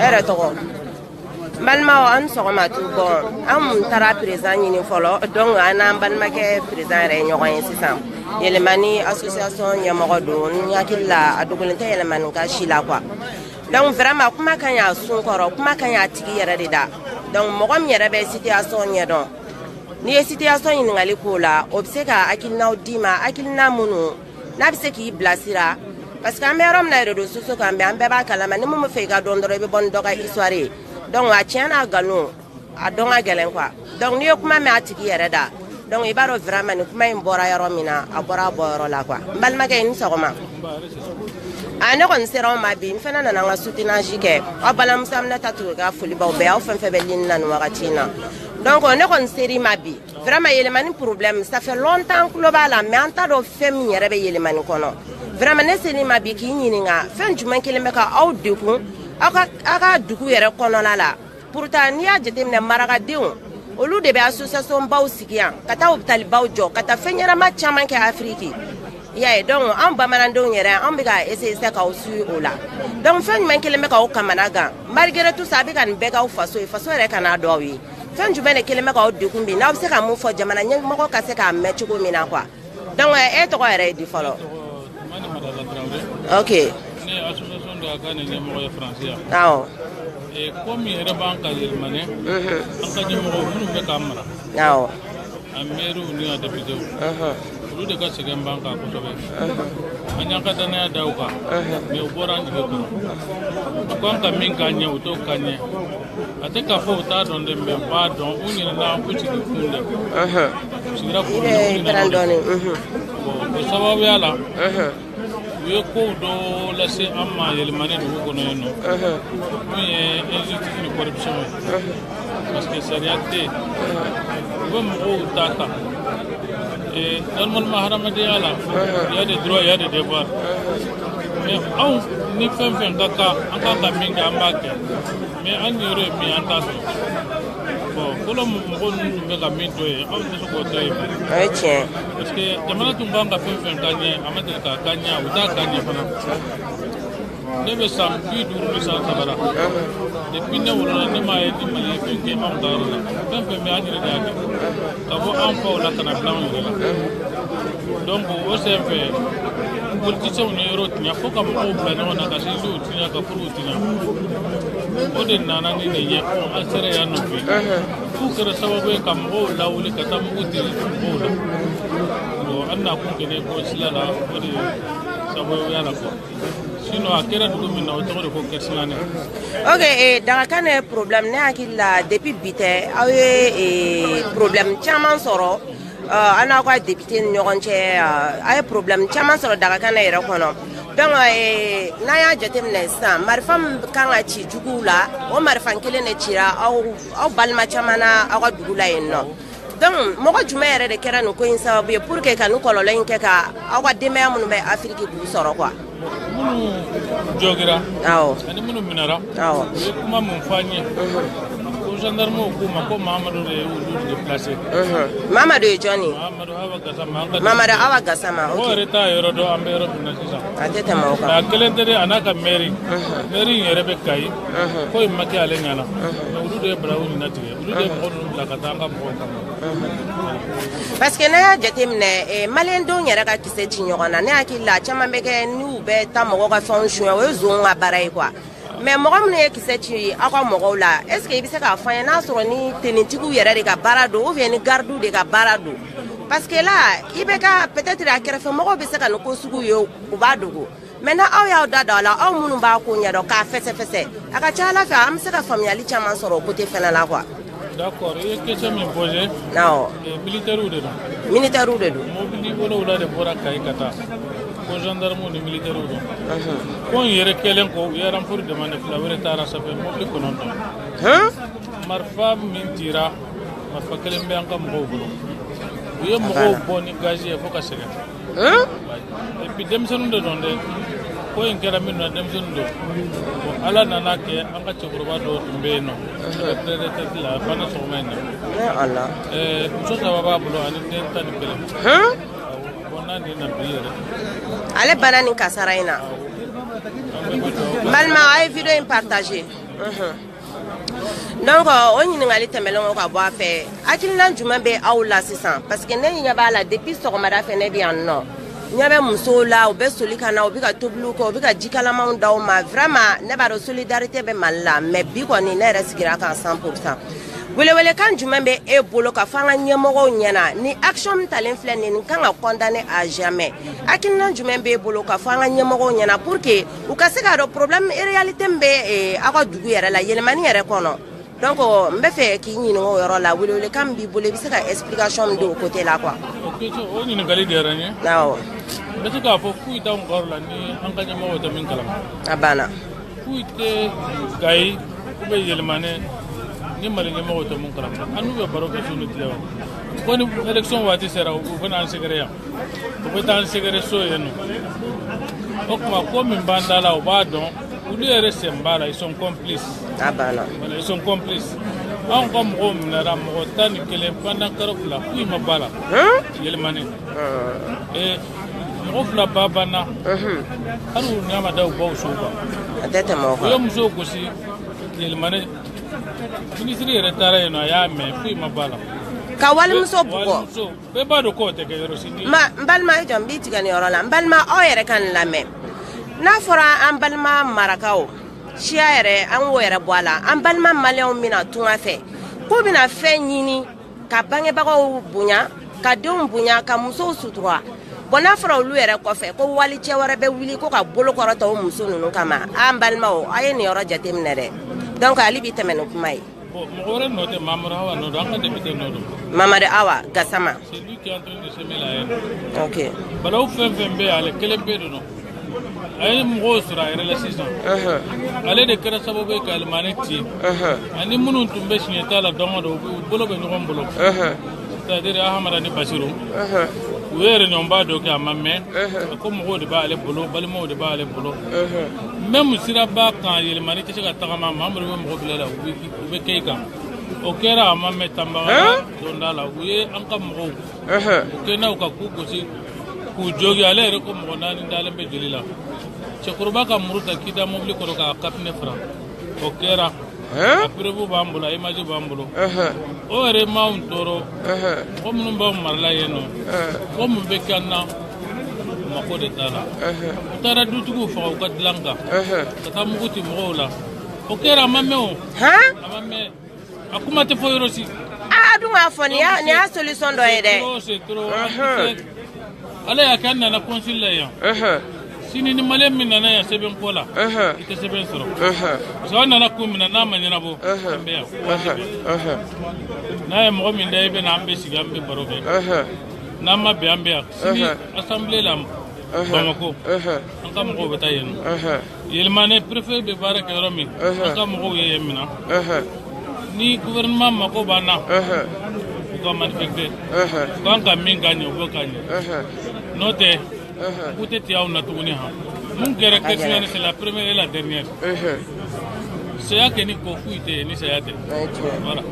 Ere tɔgɔ balimaw aw ni sɔgɔma tu bɔn an tun taara président ɲini fɔlɔ donc an n'an balimakɛ président yɛrɛ ye ɲɔgɔn ye sisan yɛlɛmani association ɲɛmɔgɔ don n hakili la a dogolen tɛ yɛlɛmanika si la quoi donc vraiment kuma ka ɲi a sun kɔrɔ kuma ka ɲi a tigi yɛrɛ de da donc mɔgɔ min yɛrɛ bɛ situation ɲɛdɔn n'i ye situation ɲininkali k'o la o bɛ se ka hakilinaw d'i ma hakilina minnu n'a bɛ se k'i bilasira parce que an bɛ yɔrɔ min na réseaux sociaux kan bɛ an bɛɛ b'a kalama ni mɔgɔ bɛ fɛ i ka dɔn dɔrɔn i bɛ bɔ ni dɔ ka histoire ye donc a tiɲɛ n'a nkalon a dɔn ka gɛlɛn quoi donc n'i ye kuma mɛn a tigi yɛrɛ da donc i b'a dɔn vraiment nin kuma in bɔra yɔrɔ min na a bɔra a bɔ yɔrɔ la quoi n balimakɛ i ni sɔgɔma a ne kɔni sera aw ma bi n fana nana n ka soutenage kɛ aw balimamuso aminata tugu ka foli b'aw bɛɛ aw fɛn fɛn bɛ ligne na nin wagati in na donc ne kɔni sera i ma bi Vraiment yelemani problème ça fait longtemps tulo b'a la mais an t'a dɔn fɛn min yɛrɛ bɛ yelemani kɔnɔ vraiment ne sera i ma bi k'i ɲininka fɛn jumɛn kelen bɛ ka aw degun aw ka aw ka dugu yɛrɛ kɔnɔna la pourtant n'i y'a jateminɛ marakadenw olu de bɛ association baw sigi yan ka taa hôpital baw jɔ ka taa fɛn ɲɛnama caman kɛ afiriki i y'a ye donc an bamanandenw yɛrɛ an bɛ ka essayer sisan k'aw suit o la donc fɛn jumɛn kelen bɛ k'aw kamana gan malgré tout ça a bɛ ka nin bɛɛ k'aw faso ye faso yɛrɛ kan'a dɔn aw ye fɛn jumɛn de kelen bɛ k'aw degun bi n'aw bɛ se ka mun fɔ jamana ɲɛmɔgɔ ka se k'a mɛn cogo min na quoi donc e tɔgɔ yɛrɛ ye di fɔlɔ madi madala traoré ok ne ye association dagakané ɲɛmɔgɔ ye faransi yan awɔ ko min yɛrɛ b'an kan yɛlɛmanɛ an ka ɲɛmɔgɔw minnu bɛ k'an mara awɔ a mɛriw ni a depitew olu de ka sɛgɛn b'an kan kosɛbɛ an y'an ka dannaya da u kan mɛ u bɔra an jigi kɔrɔ u kan ka min k'an ɲɛ u t'o k'an ɲɛ a tɛ k'a fɔ u t'a dɔn dɛ mɛ u b'a dɔn u ɲinɛna k'u sigi kun de u sigira kun de u ɲinɛna o de kɔ o sababuya la u ye kow dɔ lase an ma yɛlɛmani dugu kɔnɔ yen n'o ye injustice ni corruption ye parce que sariya tɛ yen u bɛ mɔgɔw ta ta normalement hadamadenya la il y a des droits il y a des devoirs mais anw ni fɛn fɛn ka kan an kan ka min kɛ an b'a kɛ mɛ an yɛrɛ ye min an t'a sɔrɔ bɔn fɔlɔ mɔgɔ ninnu tun bɛ ka min to yen anw tɛ se k'o to yen o ye tiɲɛ parce que jamana tun kan ka fɛn fɛn k'an ɲɛ a ma deli ka k'an ɲɛ u t'a k'an ɲɛ fana ne bɛ san bi duuru ni san saba la depuis ne wolola ne m'a ye ni mali ye fɛn kɛ anw ka yɔrɔ la fɛn fɛn bɛ an yɛrɛ de y'a kɛ ka bɔ an faw la ka na bila anw yɛrɛ la donc o senfɛ politiciens ye yɔrɔ tiɲɛ fo ka mɔgɔw bila ɲɔgɔn na ka sinjiw tiɲɛ ka furu o de nana ni nin ye an sera yan nɔ bi f'u kɛra sababu ye ka mɔgɔw lawuli ka taa mugu ci mɔgɔw la bon an na kun kɛnɛ ko sila la o de sababuya la quoi sinon a kɛra dugu min na o tɔgɔ de ko kersignané ok eh, dagakane problème ne hakili la depuis bi tɛ aw ye eh, problème caman sɔrɔ uh, aw n'aw ka député ni ɲɔgɔn cɛ uh, a ye problème caman sɔrɔ dagakane yɛrɛ kɔnɔ donc eh, n'a y'a jateminɛ sisan marifa min kan ka ci juguw la o marifa kelen de cira aw aw balima caman na aw ka dugu la yen nɔ donc mɔgɔ jumɛn yɛrɛ de kɛra nin ko in sababu ye pour que ka nin kɔlɔlɔ in kɛ ka aw ka denbaya minnu bɛ afiriki k'u sɔrɔ quoi minnu jɔgira awɔ ani minnu minɛra awɔ u ye kuma mun fɔ an ye ko gendarmew k'u ma ko mamadu de ye olu déplacer mamadu ye jɔni mamadu awa gasama o yɛrɛ t'a yɔrɔ dɔn an bɛ yɔrɔ min na sisan a tɛ tɛmɛ o kan a kelen tɛ dɛ a n'a ka mɛri mɛri in yɛrɛ bɛ kayi ko in ma kɛ ale ɲɛna mais olu de ye baara nin natigɛ olu de ye mɔgɔ ninnu bila ka taa an ka mɔgɔw kama parce que n'a y'a jateminɛ eh, maliyɛndenw yɛrɛ ka kisɛ ci ɲɔgɔn na ne hakili la a caman bɛ kɛ n'u bɛ taa mɔgɔ ka fɛnw suɲɛ o ye zonw ka baara ye quoi mais mɔgɔ minnu ye kisɛ ci aw ka mɔgɔw la est ce que i bɛ se k'a fɔ an ye n'a sɔrɔ ni tenitigiw yɛrɛ de ka baara don ou bien ni gardiw de ka baara don parce que là i bɛ ka peut être a kɛrɛfɛ mɔgɔw bɛ se ka nin ko sugu ye u b'a dogo maintenant aw y'aw da don a la aw minnu b'a ko ɲɛdɔn k'a fɛsɛfɛsɛ a ka ca a la fɛ an bɛ se ka faamuyali caman sɔrɔ o côté fana la quoi d'accord i ye question min poser awɔ militairew de don militairew de don mobili wolowula de bɔra kayi ka taa ko gendarmew ni militairew don ko in yɛrɛ kɛlen kɔ u ye renfort demander fila wɛrɛ taara sanfɛ mobili kɔnɔntɔn marifa min cira marifa kelen bɛ an ka mɔgɔw bolo u ye mɔgɔw bɔ ni gazi ye fo ka sɛgɛn et puis denmisɛnnin de don dɛ ko in kɛra min na denmisɛnnin don ala nana kɛ an ka cɛkɔrɔba dɔ tun bɛ yen nɔ retraite la a banna sɔgɔma in na muso saba b'a bolo ani den tan ni kelen bon n'a den na bi yɛrɛ ale banna nin kasara in na n balima a ye video in partager donc o ɲininkali tɛmɛlen kɔ ka bɔ a fɛ hakilinan jumɛn bɛ aw la sisan parce que ne ɲɛ b'a la depuis sɔgɔmada fɛ ne bɛ yan nɔ ɲɛ bɛ musow la u bɛ soli ka na u bɛ ka tobiliw kɛ u bɛ ka jikalamanw d'aw ma vraiment ne b'a dɔn solidarité bɛ mali la mais bi kɔni ne yɛrɛ sigira a kan 100 pour cent welewelekan jumɛn bɛ e bolo ka fɔ an ka ɲɛmɔgɔw ɲɛna ni action min talen filɛ nin ye nin kan ka condamner à jamais hakilinan jumɛn b'e bolo ka fɔ an ka ɲɛmɔgɔw ɲɛna pour que u ka se k'a dɔn problème réalité min bɛ eh, aw ka dugu yɛrɛ la yɛlɛmani yɛrɛ kɔnɔ donc n bɛ fɛ k'i ɲininka o yɔrɔ la welewelekan min b'i bolo i bɛ se ka explication min di o côté la quoi. o ɲininkali diyara n ye. awɔ. n bɛ se k'a fɔ foyi t'anw ka yɔrɔ la ni an ka ɲɛmɔgɔw tɛ min kalama. a banna. foyi tɛ kayi ou bien yɛlɛmani ni mali ɲɛmɔgɔw tɛ min kalama an n'u bɛ baro kɛ su ni tile wa ko ni élection waati sera u bɛna an sɛgɛrɛ yan. u bɛ taa an sɛgɛrɛ so yen nɔ o tuma ko min b'an da la u b'a dɔn olu yɛrɛ sen b'a la ils sont complices a banna voilà ils sont complices anw ka mɔgɔw minɛra mɔgɔ tan ni kelen pendant kalo fila foyi ma b'a la yɛlɛmani ee mɔgɔ fila ba banna hali u ɲa ma da u baw suw kan a tɛ tɛmɛ o kan u ye musow gosi yɛlɛmani ministre yɛrɛ taara yen nɔ a y'a mɛn foyi ma b'a la ka walimuso bugɔ walimuso bɛɛ b'a dɔn k'o tɛ kɛ yɔrɔ si n balima i jɔ n b'i tigɛ nin yɔrɔ la n balima aw yɛrɛ ka nin lamɛn n'a fɔra an balima marakaw siya yɛrɛ an k'o yɛrɛ bɔ a la an balima maliyɛnw bɛ na tunga fɛ k'u bɛna fɛn ɲini ka bangebagaw bonya ka denw bonya ka musow sutura bon n'a fɔra olu yɛrɛ kɔfɛ ko walicɛ wɛrɛ bɛ wuli ko ka bolo kɔrɔta o muso ninnu kama an balimaw a ye nin yɔrɔ jateminɛ dɛ donc ale b'i tɛmɛ ni kuma ye mamadu awa nɔ don an ka député nɔ don mamadu awa gasama c'est lui qui est en train de semer la haine balawu fɛn fɛn bɛ ale kelenpe de nɔ a ye mɔgɔw sɔrɔ a yɛrɛ la sisan ale de kɛra sababu ye ka yɛlɛmani ci ani minnu tun bɛ siɲɛta la don go don u bolo bɛ ɲɔgɔn bolo c'est-à-dire ahamada ni basiru u ye réunion ba dɔ kɛ a ma mɛɛn a ko mɔgɔw de b'ale bolo balimaw de b'ale bolo même siraba kan yɛlɛmani tɛ se ka tagama mamadu bɛ mɔgɔ bila la u bɛ kɛ i kan o kɛra a ma mɛɛn tanbakara donda la u ye an ka mɔgɔw u kɛra u kan k'u gosi k'u jogi ale yɛrɛ ko mɔgɔ naani dalen bɛ joli la cɛkɔrɔba ka muru ta k'i da mobili kɔrɔ k'a ka pinɛ fara o kɛra a preuve b'an bolo a image b'an bolo o yɛrɛ m'anw tɔɔrɔ mɔgɔ minnu b'anw marala yen nɔ ko min bɛ k'an na u mako de t'a la u taara dutigiw faga u ka dilan kan ka taa mugu ti mɔgɔw la o kɛra a ma mɛɛn o a ma mɛɛn a kuma tɛ fɔ yɔrɔ si a dɔn k'a fɔ nin y'a nin y'a solution dɔ ye dɛ trop c'est trop Unhun. ala y'a kɛ an nana consul la yan Unhun, sini ni maliyɛn min nana yan sɛbɛn ko la unhun, i tɛ sɛbɛn sɔrɔ unhun, parce que an nana ko min na n'a ma ɲɛnabɔ Unhun. an bɛ yan unhun, unhun, n'a ye mɔgɔ min da i bɛ na an bɛ sigi an bɛ baro kɛ unhun, n'an ma bɛn an bɛ yan sini Unhun. assemblée la unhun, bamako unhun, an ka mɔgɔw bɛ taa yen nɔ unhun. yɛlɛmane préfet bɛ baara kɛ yɔrɔ min an ka mɔgɔw ye yen mina ni gouvernement mako b'an na u ka manifester u kan ka min k'an ye u b'o k'an ye n'o tɛ k'u tɛ tigɛ aw na tuguni han mun kɛra kɛsiyɛni c'est la première et la dernière saya kɛ ni ko foyi tɛ ni saya tɛ voilà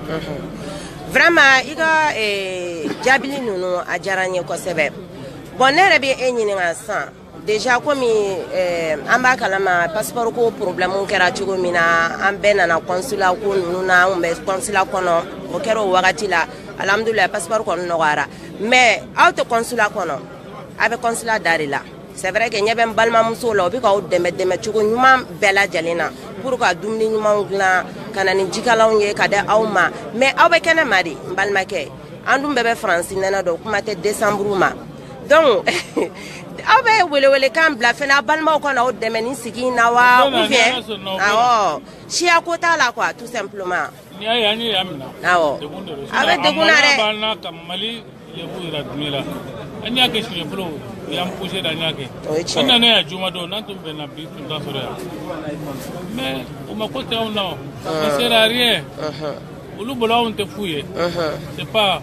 vraiment i ka eh, jaabili ninnu a diyara n ye kosɛbɛ bon ne yɛrɛ bɛ e ɲininka sisan Déjà komi eh, an b'a kalama passeport ko problème kɛra cogo min na an bɛɛ nana consulat ko ninnu na an bɛ consulat kɔnɔ o kɛra o wagati la alhamdulilayi passeport kɔni nɔgɔyara mais aw tɛ consulat kɔnɔ aw bɛ consulat da de la c'est vrai que ɲɛ bɛ n balimamusow la o bɛ k'aw dɛmɛ dɛmɛ cogo ɲuman bɛɛ lajɛlen na pour ka dumuni ɲumanw dilan ka na ni jikalanw ye ka di aw ma mais aw bɛ kɛnɛma de n balimakɛ an dun bɛɛ bɛ faransi nɛnɛ dɔn kuma tɛ desanburu ma donc aw bɛ welewelekan bila fana aw balimaw ka na aw dɛmɛ ni sigi in na wa ou bien awɔ siya ko t'a la quoi tout simplement n'i y'a ye an ye yan minɛ awɔ aw bɛ degun na dɛ b'an na ka mali lebu yira duniya la an y'a kɛ siɲɛ fɔlɔ u y'an pousser da an y'a kɛ an nana yan juma don n'an tun bɛnna bi tun t'a sɔrɔ yan mais o mako tɛ anw na on ne sert à rien olu bolo anw tɛ fu ye c'est pas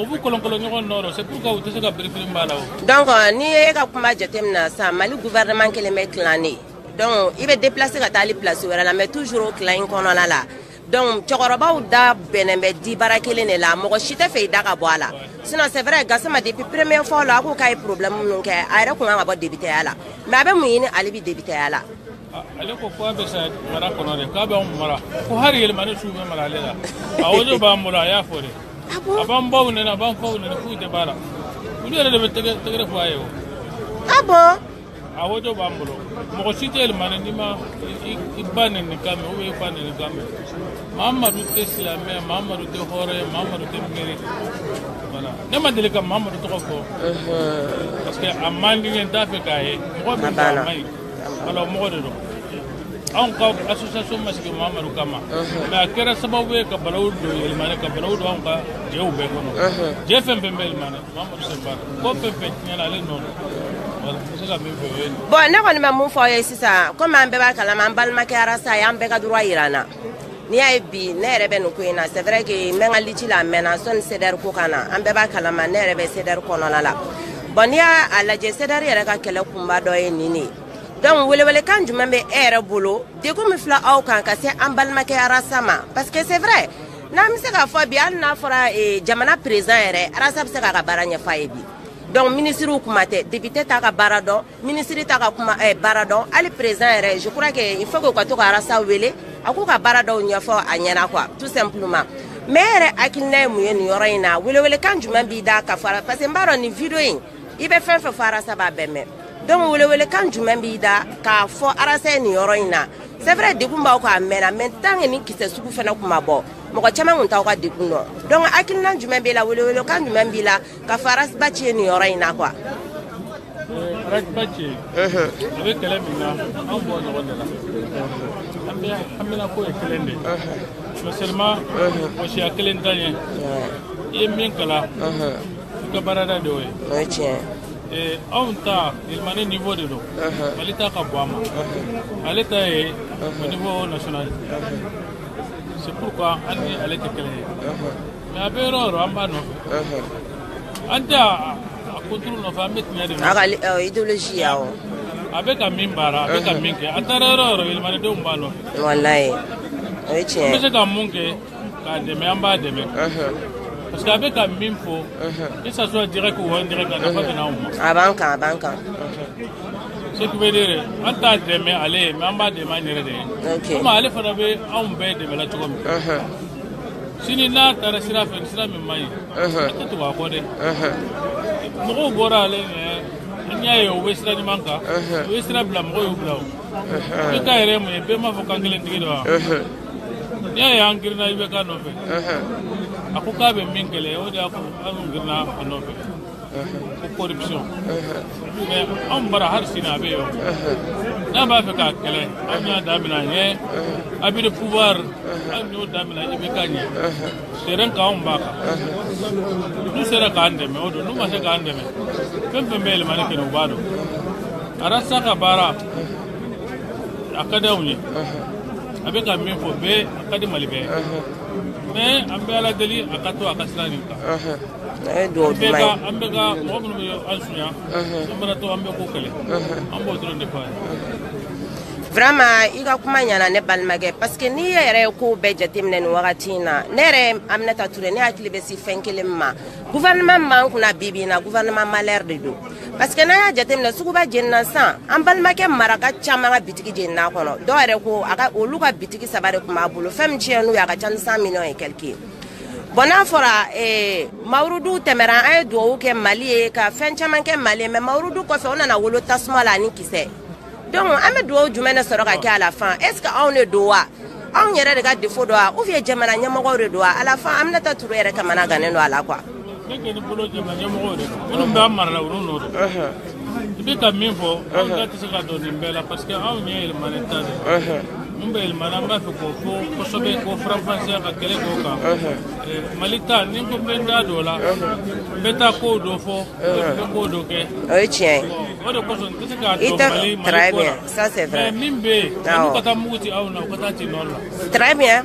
u b'u kolonkolon ɲɔgɔn nɔ rɔ c'est pourquoi u tɛ se ka birifiri b'a la o donc n'i ye e ka kuma jateminɛ sa mali gouvernement kɛlen bɛ clan ye donc i bɛ déplacer ka taa hali place wɛrɛ la mais toujours o clan in kɔnɔna la donc cɛkɔrɔbaw da bɛnnen bɛ di baara kelen de la mɔgɔ si t'a fɛ i da ka bɔ a la sinon c'est vrai gasama depuis première fois la a ko k'a ye problème minnu kɛ a yɛrɛ kun kan ka bɔ depiteya la mais a bɛ mun ɲini hali bi depiteya la ale ko k'a bɛ sa mara kɔnɔ de k'a b'an mara ko hari yɛlɛmani su bɛ mara ale la a audio b'an bolo a y'a fɔ de a b'an baw nɛni a b'an faw nɛni foyi tɛ b'a la olu yɛrɛ de bɛ tɛgɛrɛ fɔ a ye o ah bon a audio b'an bolo mɔgɔ si tɛ yɛlɛmani n'i ma i ba nɛni kan mɛn ou bien i fa nɛni kan mɛn mamadu tɛ silamɛ mamadu tɛ hɔrɔn ye mamadu tɛ miiri voilà ne ma deli ka mamadu tɔgɔ fɔ parce que a man di n ye n t'a fɛ k'a ye mɔgɔ bɛ fɔ a man ɲi Ala mɔgɔ de don anw ka association ma sigi Mamadu kama mais a kɛra sababu ye ka balawu don yɛlɛmani ka balawu don anw ka jɛw bɛɛ kɔnɔ jɛ fɛn fɛn bɛ yɛlɛmani Mamadu sen b'a la ko fɛn fɛn tiɲɛna ale nɔ don voilà n bɛ se ka min fɔ o ye nin ye. bon ne kɔni bɛ mun fɔ aw ye sisan komi an bɛɛ b'a kalama an balimakɛ arasa ye an bɛɛ ka droit yira an na n'i y'a ye bi ne yɛrɛ bɛ nin ko in na c'est vrai que n bɛ n ka lutte la a mɛnna sɔni CDR ko ka na an bɛɛ b'a kalama ne yɛrɛ bɛ CDR kɔnɔna la bon n'i y'a lajɛ CDR yɛrɛ ka kɛlɛ kunba dɔ ye nin de ye donc welewelekan jumɛn bɛ e yɛrɛ bolo degun min filɛ aw kan ka se an balimakɛ arasa ma parce que c'est vrai n'an bɛ se k'a fɔ bi hali n'a fɔra eh, jamana président yɛrɛ arasa bɛ se k'a ka baara ɲɛfɔ a ye bi donc minisiriw kuma tɛ député t'a ka baara dɔn minisiri t'a ka kuma eh, baara dɔn hali perezidan yɛrɛ je crois que il faut que u ka to ka arasa wele a k'u ka baara dɔw ɲɛfɔ a ɲɛna quoi tout simplement mais yɛrɛ hakilina ye mun ye nin yɔrɔ in na welewelekan jumɛn b'i da ka fara parce que n b'a dɔn nin video in i bɛ fɛn fɛn fɔ arasa b'a bɛɛ mɛn donc welewelekan jumɛn b'i da k'a fɔ arasa ye nin yɔrɔ in na c'est vrai degun b'aw kan a mɛnna mais tant que ni kisɛ sugu fana tun ma bɔ mɔgɔ caman tun t'aw ka degun dɔn donc hakilina jumɛn b'i la welewelekan jumɛn b'i la k'a fɔ ras bath ye nin yɔrɔ in na quoi ras bath a bɛ kɛlɛ min na an b'o ɲɔgɔn de la an bɛɛ haminanko ye kelen de ye seulement mɔsiya kelen t'an ye i ye min kalan i ka baarada de y'o ye o ye tiɲɛ ye anw ta yɛlɛmani niveau de don mali ta ka bon a ma ale ta ye au niveau national c'est pourquoi an ni ale tɛ kelen ye a bɛ yɔrɔ yɔrɔ an b'a nɔfɛ an tɛ a kunturu nɔfɛ an bɛ tiɲɛ de nɔfɛ a ka idéologie awɔ a bɛ ka min baara a bɛ ka min kɛ a taara yɔrɔ yɔrɔ yɛlɛmanidenw b'a nɔfɛ walayi o ye tiɲɛ ye an bɛ se ka mun kɛ k'a dɛmɛ an b'a dɛmɛ parce que a bɛ ka min fɔ que ça soit direct ou indirect a nafa bɛ na anw ma a b'an kan a b'an kan ce qui veut dire an t'a dɛmɛ ale ye mais an b'a dɛmɛ an yɛrɛ de ye ok komi ale fana bɛ anw bɛɛ dɛmɛla cogo min sini n'a taara sira fɛ sira min man ɲi an tɛ tugu a kɔ dɛ mɔgɔw bɔra ale ɲɛ an y'a ye u bɛ sira ɲuman kan u ye sira bila mɔgɔw y'u bila o ibk yɛrɛ mun ye bɛɛ m'a fɔ kankelentigi don wa n'i y'a ye an girinna ibk nɔfɛ a ko k'a bɛ min kɛlɛ o de y'a kɛ an girinna a nɔfɛ ko corruption mais anw bara hali sini a bɛ yen n'a b'a fɛ k'a kɛlɛ an y'a damina a ɲɛ abus de pouvoir an y'o damina ibk ɲɛ terrain kan anw b'a kan n'u sera k'an dɛmɛ o don n'u ma se k'an dɛmɛ fɛn fɛn bɛ yɛlɛmani kɛ u b'a dɔn arasa ka baara a ka di anw ye a bɛ ka min fɔ bɛɛ a ka di mali bɛɛ mais an bɛ ala deli a ka to a ka sira nin kan an bɛ ka mɔgɔ minnu bɛ an sunya an bɛna to an bɛ k'o kɛlɛ an b'o dɔrɔn de fɔ a ye vraiment i ka kuma ɲana ne balimakɛ parce que n'i yɛrɛ ye kow bɛɛ jateminɛ nin wagati in na ne yɛrɛ aminata ture ne hakili bɛ sin fɛn kelen ma gouvernement min b'an kunna bi bi in na gouvernement malheur de don parce que n'an y'a jateminɛ suguba jenina san an balimakɛ maraka caman ka bitigi jenina kɔnɔ dɔw yɛrɛ ko a ka olu ka bitigi saba de tun b'a bolo fɛn min tiɲɛn'u ye a ka ca ni cent millions et quelque ye bon n'a fɔra eh, mawurudu tɛmɛra an ye dugawu kɛ mali ye ka fɛn caman kɛ mali ye mais mawurudu kɔfɛ o nana wolo tasuma la ani kisɛ donc an bɛ dugawu jumɛn de sɔrɔ ka kɛ à la fin est ce que anw de don wa anw yɛrɛ de ka défaut don wa ou bien jamana ɲɛmɔgɔw de don wa à la fin aminata ture yɛrɛ kamanagannen don a la quoi ne kɔni bolo jamana ɲɛmɔgɔw de don minnu bɛ an mara la olu nɔ don i bɛ ka min fɔ anw da tɛ se ka don nin bɛɛ la parce que anw ye yɛlɛmani ta de ye mun bɛ yɛlɛmani an b'a fɛ k'o fɔ kosɛbɛ k'o faranfasiya ka kɛlɛ k'o kan mali ta ni ko n bɛ n da don o la n bɛ taa kow dɔ fɔ n bɛ kow dɔ kɛ o ye tiɲɛ ye o de kosɔn n tɛ se k'a i dɔn tɛ mali mali très ko la bien ça c'est vrai mais min bɛ yen Awɔ. n'u ka taa mugu ci aw na u ka taa ci nord la très bien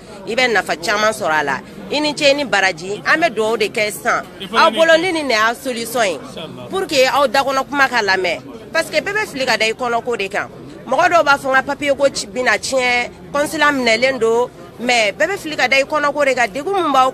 i bɛ nafa caman sɔrɔ a la i ni ce ni baraji an bɛ dugawu de kɛ sisan aw bolo ni nin de y'a solution ye pour que aw dakɔnɔ kuma ka lamɛn parce que bɛɛ bɛ fili ka da i kɔnɔko de kan mɔgɔ dɔw b'a fɔ n ka papier ko bɛna tiɲɛ consulat minɛlen don mais bɛɛ bɛ fili ka da i kɔnɔko de kan degun min b'aw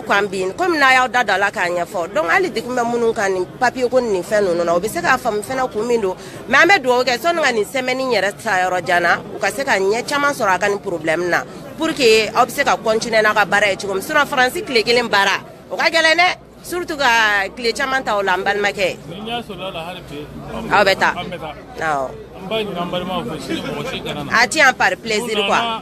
kan bi komi n'a y'aw da don a la k'a ɲɛfɔ donc hali degun bɛ minnu kan nin papier ko nin fɛn ninnu na o bɛ se k'a faamu fɛnɛ kun min don mais an bɛ dugawu kɛ sɔni ka nin semaine yɛrɛ taa yɔrɔ jan na u ka se ka ɲɛ caman sɔrɔ a ka nin problème na pour que aw bɛ se ka continuer n'a ka baara ye cogo min sinon faransi tile kelen baara o ka gɛlɛn dɛ surtout ka tile caman ta o la n balimakɛ aw bɛ taa awɔ a ti yan par plaisir quoi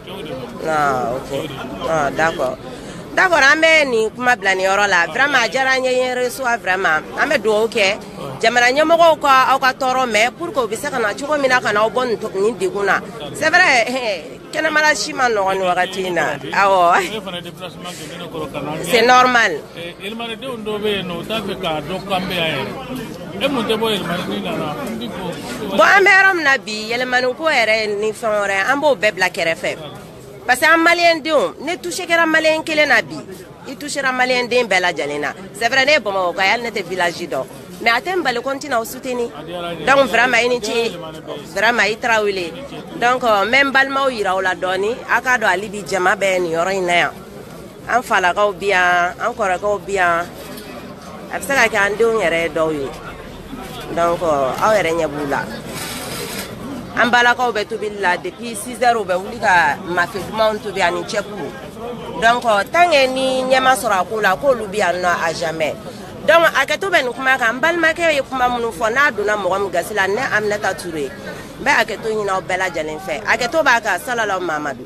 ah, ah, d'accord d'accord an bɛ nin kuma bila nin yɔrɔ la vraiment a diyara n ye i ye n reçois vraiment an bɛ dugawu kɛ jamana ɲɛmɔgɔw ka aw ka tɔɔrɔ mɛn pour que u bɛ se ka na cogo min na ka na aw bɔ nin degun na c'est vrai kɛnɛmala si man nɔgɔn nin wagati in na awɔ c'est normal E mun tɛ bɔ yɛlɛmani na la bon an bɛ yɔrɔ min na bi yɛlɛmani ko yɛrɛ ni fɛn wɛrɛ an b'o bɛɛ bila kɛrɛfɛ parce que an maliyɛn denw ni touché kɛra maliyɛn kelen na bi i touchera maliyɛn den bɛɛ lajɛlen na c'est vrai ne ye bamakɔka hali ne tɛ village dɔn mais a tɛ n bali ko n tɛna aw soutenir donc vraiment i ni ce vraiment i tarawele donc n bɛ n balimaw yira aw la dɔɔni a k'a dɔn hali bi jama bɛ nin yɔrɔ in na yan an falakaw bi yan an kɔrɔkɛw bi yan a bɛ se ka kɛ an denw yɛrɛ ye dɔw ye donc aw yɛrɛ ɲɛ b'u la an balakaw bɛ tobili la depuis 6 heures u bɛ wuli ka mafe dumanw tobi ani cɛbu donc tant que ni ɲɛ ma sɔrɔ a ko la k'olu bɛ yan nɔ à jamais donc hakɛto bɛ nin kuma kan n balimakɛ ye kuma minnu fɔ n'a donna mɔgɔ min gasi la ne aminata ture n bɛ hakɛto ɲini aw bɛɛ lajɛlen fɛ hakɛto b'a kan salalaw mamadu